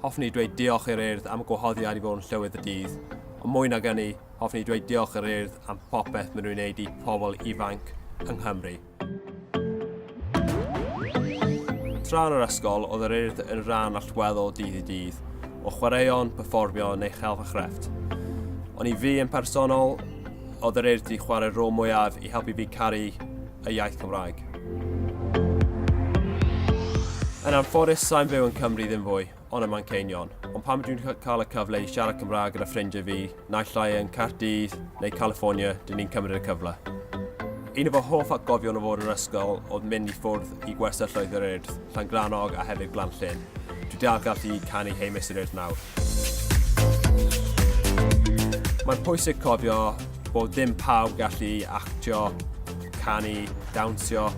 Hoffwn i dweud diolch i'r Urdd am y gwahoddiad i fod yn llywydd y dydd, ond mwy nag ynny, hoffwn i dweud diolch i'r Urdd am popeth maen nhw'n wneud i pobl ifanc yng Nghymru. Tra yn yr ysgol, oedd yr Urdd yn rhan allweddol dydd i dydd, o chwaraeon, perfformio neu chelf a chrefft. Ond i fi yn personol, oedd yr Urdd 'di chwarae'r rôl mwyaf i helpu fi caru y iaith Cymraeg. Yn anffodus, sa'n byw yn Cymru ddim fwy, ond ym Manceinion. Ond pam dwi'n cael y cyfle i siarad Cymraeg gyda ffrindiau fi, naill ai yn Caerdydd neu California, dyn ni'n cymryd y cyfle. Un o fy hoff atgofion o fod yn yr ysgol oedd mynd i ffwrdd i gwersyll Llwyd yr Urdd. Llangrannog a hefyd Glanllyn. Dwi dal gallu canu Hey Mister Earth nawr. Mae'n pwysig cofio bod dim pawb gallu actio, canu, dawnsio,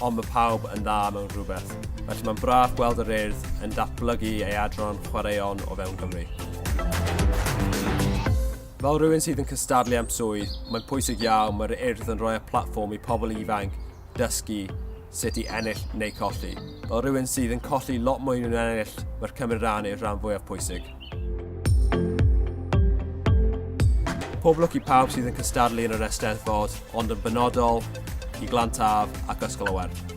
ond mae pawb yn dda mewn rhywbeth. Felly mae'n braf gweld yr Urdd yn datblygu ei adran chwaraeon o fewn Cymru. Fel rhywun sydd yn cystadlu am swydd, mae'n pwysig iawn mae'r Urdd yn rhoi y platfform i pobl ifanc dysgu sut i ennill neu colli. Fel rhywun sydd yn colli lot mwy nhw'n ennill, mae'r cymryd rhan yw'r rhan fwyaf pwysig. Pob lwc i pawb sydd yn cystadlu yn yr Eisteddfod, ond yn benodol i Glantaf ac Ysgol y Werdd.